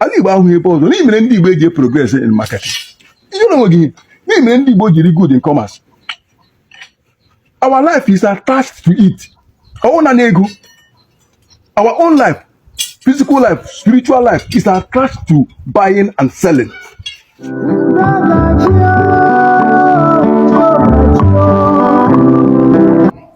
ala Igbo ahụ ebe ọzọ ihe mere ndị Igbo eji progress in marketing e nwere ihe mere ndị Igbo jiri good in commerce our life is attached to it ọwụ na ego our own life physical life spiritual life is attached to buying and selling.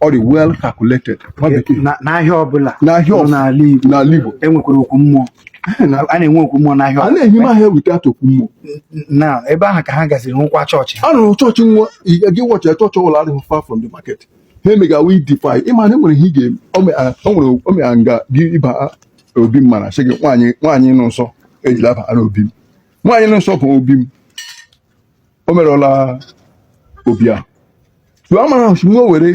ọ dị well calculated nwa bekee Na- n'ahịa ọbụla N'ahịa nọ ọbụla. n'ala Igbo n'ala Igbo enwekwara okwu mmụọ a na-enwe okwu mmụọ n'ahịa a ọbụla. na-enye m ahịa weta okwu mmụọ na ebe ahụ ka ha gaziri hụkwa chọọchị ha a rụrụ chọọchị nwa ị gị watch ya chọọchị ọbụla adịghị far from the market ha emegawa ị defile ịma na enwere ihe ị ga-eme o me- a- o nwere o mere nga gị ịba obi m mana sị gị nwaanyị nwaanyị nụ nsọ ejila aba na obi m nwaanyị nụ nsọ bụ obi m o merụla obi a tụọ amara osimiri o were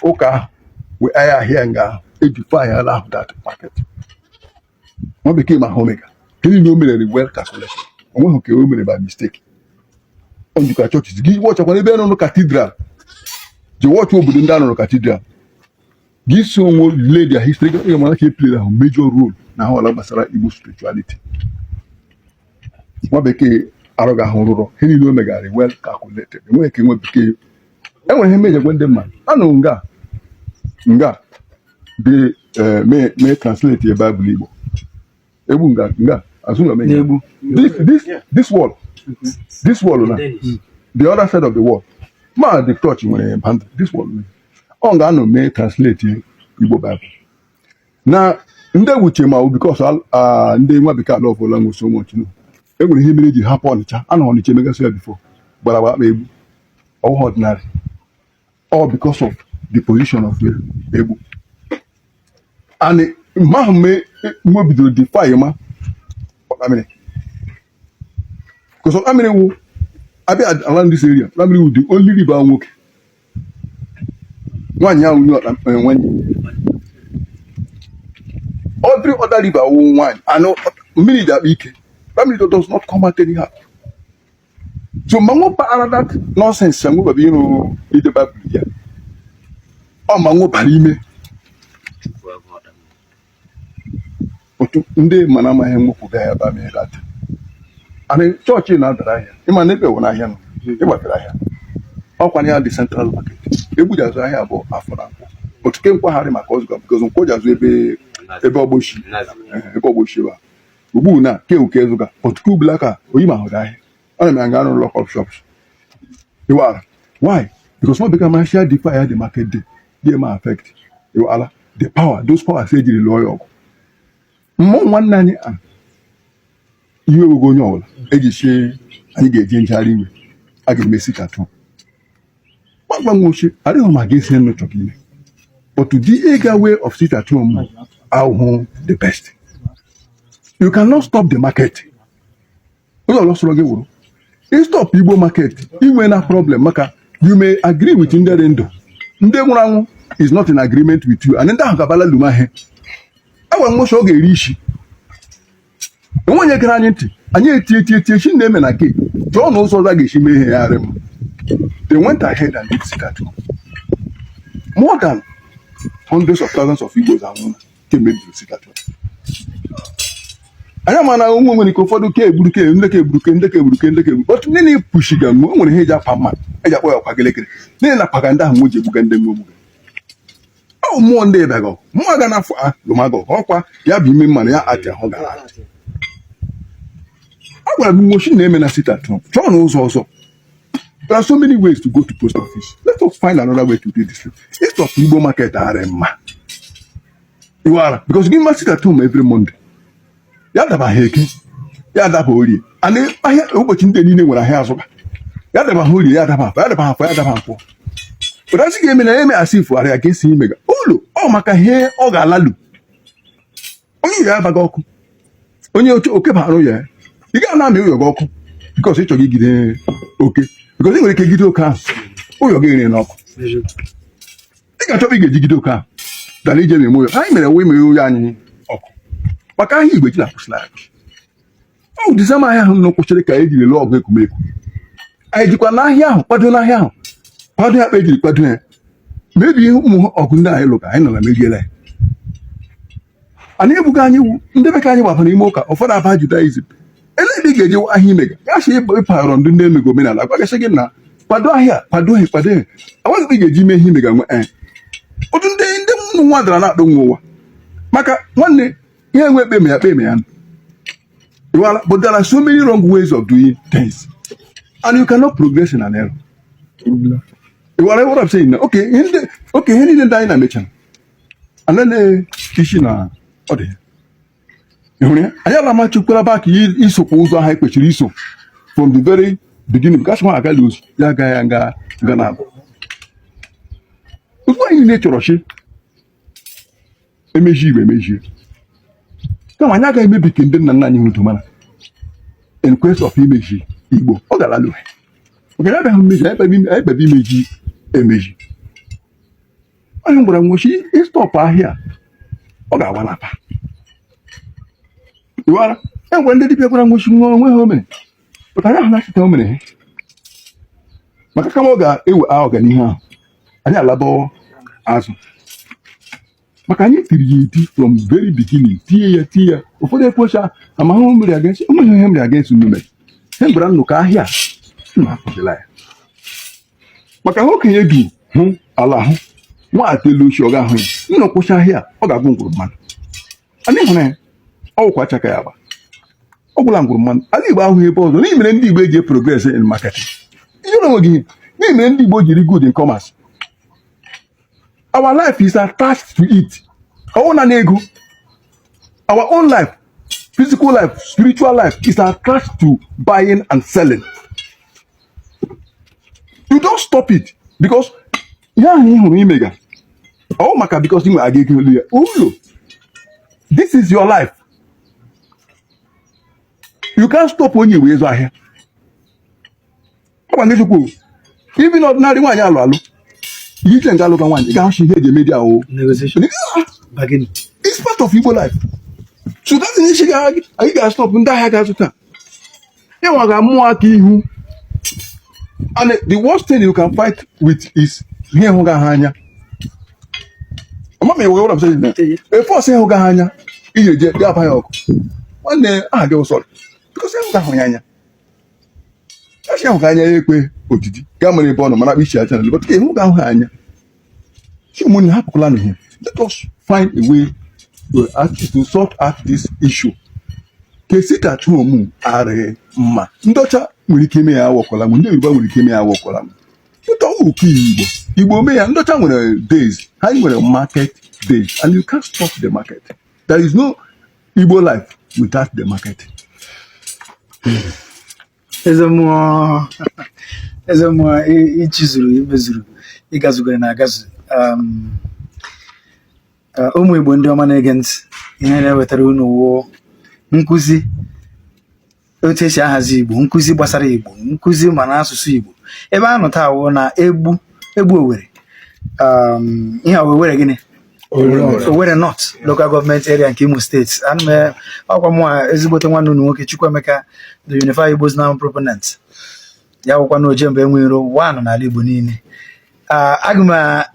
ụka ahụ wee ahịa ahịa nga ahụ e defile ala ahụ that market nwa bekee ma ha omega kedu ihe o mere well calculated o nweghị ka o mere by mistake ọ njikwa chọọchị gị watch-akwa n'ebe nọ cathedral gị watch obodo ndị a nọ cathedral gị si onwe lee their history gị ga-amara ka e play-re ahụ major role na ahụ ala gbasara Igbo spirituality nwa bekee arụ ga ahụ rụrụ ihe niile o megara well calculated enweghị ka nwa bekee enwere ihe mere eji gwa ndị mmadụ anọ nga nga dị eh, mee mee translate ya baịbụl Igbo Egbu nga nga azụ na omenye na Egbu this this this wall this wall na the other side of the wall ma the church nwere behind this wall na ọ nga a nọ mee translate Igbo Bible na ndị Egbu che ma ọ because ndị nwa bekee love-la we so much no e nwere ihe mere eji hapụ Ọnịcha anọ Ọnịcha emegasị ya before gbara ba Egbu ọwụghị ordinary all because of the position of Egbu and mgbe ahụ mgbe bidoro defile ma Otamiri because Otamiri wụ a bịa around this area Otamiri wụ the only river nwoke nwaanyị ahụ nye Otamiri eh, nwaanyị every other river wụ nwaanyị and mmiri ji akpa ike Otamiri does not come out anyhow so manwụ paara that nonsense ya nwebaba ịrụ ide baịbụl ya ọ manwụ bara ime otu ndị mana amaghị nwepụ ga ya ba mee lata anyị chọọchị na-adara ahịa ịma na ebe were ahịa nọ ịgbafere ahịa ọkwanye ya dị central market Egbu ji azụ ahịa bụ afọ na nkwụ otu ke nkwagharị maka ọzụga because nkwụ ji azụ ebe ebe ọgbochi ebe ọgbochi ba ugbu na ke uke ezuka otuke ubula ka oyi ma hụrụ ahịa ana m aga arụ lock up shops iwara why because no become my share the fire the market day dey ma affect iwala the power those powers ejiri lụọ ya ọgụ ụmụ nwanne anyị a iwe wego onye ọbụla eji sị anyị ga-eji njegharị iwe a ga-eme sit at home agwa nwo shi adịghị mma gị esi nụ chọrọ ime but the ega way of sit at home ahụ wụ the best you cannot stop the market onye ọbụla sọrọ gị wụrụ ị stop igbo market i nwena problem maka you may agree with ndị dị ndụ ndị nwụrụ anwụ is not in agreement with you and ndị ahụ gabala luma ihe agwa nwo shi ọ ga-eri isi o nweghị onye gere anyị ntị anyị eti eti eti echi na-eme na ka e chọọ na ụzọ ọzọ ga-esi mee ihe ya arị mma they went ahead and did sit at home more than hundreds of thousands of Igbos anwụna kemgbe bidoro sit at home anyị ama na onwe nwere ike ụfọdụ ke egburu ke ndị ka egburu ke ndị ka egburu ke ndị ka egburu otu ndị na-epushiga mgbe o nwere ihe eji apa mma eji akpọ ya ọkwa gelekere n'ihi na paga ndị ahụ nwe ji egbuga ndị nwe ogbuga ọ mmụọ ndị ịbịagọ mmụọ ga na-afọ a lụmagọ ọkwa ya bụ ime mmanụ ya atị ahụ gara atị a gwara m nwo shi na-eme na sit at home chọọnụ ụzọ ọzọ there are so many ways to go to post office let us find another way to do this thing instead of igbo market arị mma iwara because gị mee sit at home every monday ya daba ha eke ya daba orie ana ahịa ụbọchị ndị niile nwere ahịa azụba ya daba ha orie ya daba afọ ya daba afọ ya daba afọ pụta sị ga-eme na ya eme a sị ifugharị ya ka esi imega ụlọ ọ maka ihe ọ ga-alalu onye ya abaghị ọkụ onye oche oke bara ya ị ga na-amụ ụyọ gị ọkụ because ị chọrọ igide oke because ị nwere ike gide oke ahụ ụyọ gị rere n'ọkụ ị ga-achọba ị ga-eji gide oke ahụ dara ije na-eme ụyọ anyị mere wee mere ụyọ anyị ọkụ maka ahịa igbo eji na-akwụsịla anyị ọ dịza m ahịa ahụ na kwụsịrị ka ejiri lụọ ọgụ Ekumeku anyị jikwa n'ahịa ahụ kwado n'ahịa ahụ kwado ya kpa ejiri kwado ya mebi ihe ụmụ ọgụ ndị anyị lụga anyị nọ na mebiela ya anyị egbuga anyị wụ ndị be ka anyị gbabara ime ụka ụfọdụ abaa Judaism ele ebe ị ga-eji ahịa imega gasị ịpagharọ ndị ndị emego omenala gwagasị gị na kwado ahịa kwado ihe kwado ihe enweghị ebe ị ga-eji mee ihe imega nwe ee ụdị ndị ndị ụmụ nwa dara na-akpọ nwe ụwa maka nwanne ihe enwe ekpe ma ya kpe ma ya nụ Well, but there are so many wrong ways of doing things, and you cannot progress in an error. iwara what I'm saying now. Okay, in the, okay, in the dynamic, alele isi na ọ dị ịhụrụ ya anyị ala ma chukwara back isokwa ụzọ ahụ e kwesịrị iso from the very beginning gasị nwa agala ozu ya aga ya nga nga na abụ ozugbo anyị niile chọrọ sị emeji igbo emejie kama anyị agaghị emebi nke ndị nna nna anyị nwudo mana in quest of imeji igbo ọ gara lụrụ maka ya abịaghị mmeji anyị kpebe imeji emeji onye m gwara unu sị ịstọpụ ahịa ọ ga-agbalapa iwara e nwere ndị dibịa gwara unu sị na onwe ha o mere pụta ya ahụ na-achịta o mere ha maka kama ọ ga-ewe a ọganihu ahụ anyị alabawo azụ maka anyị tiri ya eti from very beginning tie ya tie ya ụfọdụ ekwecha amahụ mmiri aga esi ụmụ ihe mmiri aga esi nnume he gwara unu ka ahịa a, nna apụdịla ya maka ihe okenye bi hụ ala ahụ nwata elu osisi ọ gaghị ahụ ya unu kwụsị ahịa ọ ga-agwụ ngwụrọ mmanụ ana ịhụrụ ya ọ wụkwa aka ya agba ọ gwụla ngwụrọ mmanụ ala igbo awụghị ebe ọzọ ihe mere ndị igbo eji progress in marketing ihe na o nweghị ihe ihe mere ndị igbo jiri good in commerce our life is attached to it ọ wụ naanị ego our own life physical life spiritual life is attached to buying and selling you don't stop it because ihe ahụ ị hụrụ imega ọ maka because inwe aga ego olu ya ụlọ this is your life you can't stop onye igbo ịzụ ahịa ọgwa ngechukwu ibi na ọdịnala nwaanyị alụ alụ ihe iche nke alụka nwaanyị ga-ahụ ihe eji emedia o it's part of Igbo life so that is ị sị anyị ga-astọpụ ndị ahịa ga-azụta ịnwa ga mmụọ aka ihu and the worst thing you can fight with is ihe ị hụghị anya amama iwe ụlọ msajid na efe ọsọ ị hụghị anya iji eje dị agba ya ọkụ nwanne aha gị ụsọrọ because ị hụghị ahụ ya anya echi ahụghị anya ya ekwe odidi gaa mere ebe ọ nọ mana akpa ichi aja na-alụ but ị hụghị ahụ ha anya ụmụnne hapụkwala na ihe let us find a way to, act, to sort out this issue ka esi ka chụọ ụmụ adịghị mma ndị ọcha nwere ike ime ya awọkwala m ndị yoruba nwere ike ime ya awọkwala m pụta ụka igbo igbo mee ya ndị ọcha nwere days ha nwere market days and you can't stop the market there is no igbo life without the market eze imo eze imo i- ị chịzuru i mezuru ị gazugoro na-agazu um, uh, ụmụ igbo ndị ọma na-ege ntị ihe na-ewetara unu wụ nkụzi otu esi ahazi igbo nkụzi gbasara igbo nkụzi ma na asụsụ igbo ebe a nọ taa wụ na egbu egbu owere um, ihe a wee were gịnị Owerri North local gọọmenti area nke Imo steeti ọ kwa mụwa ezigbote nwanne unu nwoke Chukwuemeka the Unified Igbos Now proponent ya wụkwa na ojemba enweghị iro one n'ala Igbo niile aga m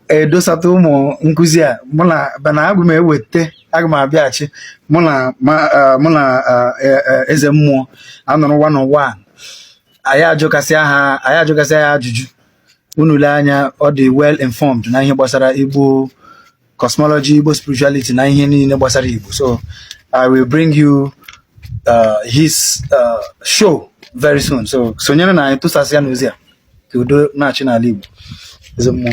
edosata ụmụ nkụzi a mụ na bana aga m eweta aga m abịaghachi mụ na mụ na e, e, eze mmụọ anọrọ one on one anyị ajụkasịa ha anyị ajụkasịa ya ajụjụ unu lee anya ọ dị well informed na ihe gbasara igbo cosmology igbo spirituality na ihe niile gbasara igbo so i will bring you uh, his uh, show very soon so sonyerenụ anyị tụsasịanụ ozi a ka udo na-achị n'ala igbo eze mmụọ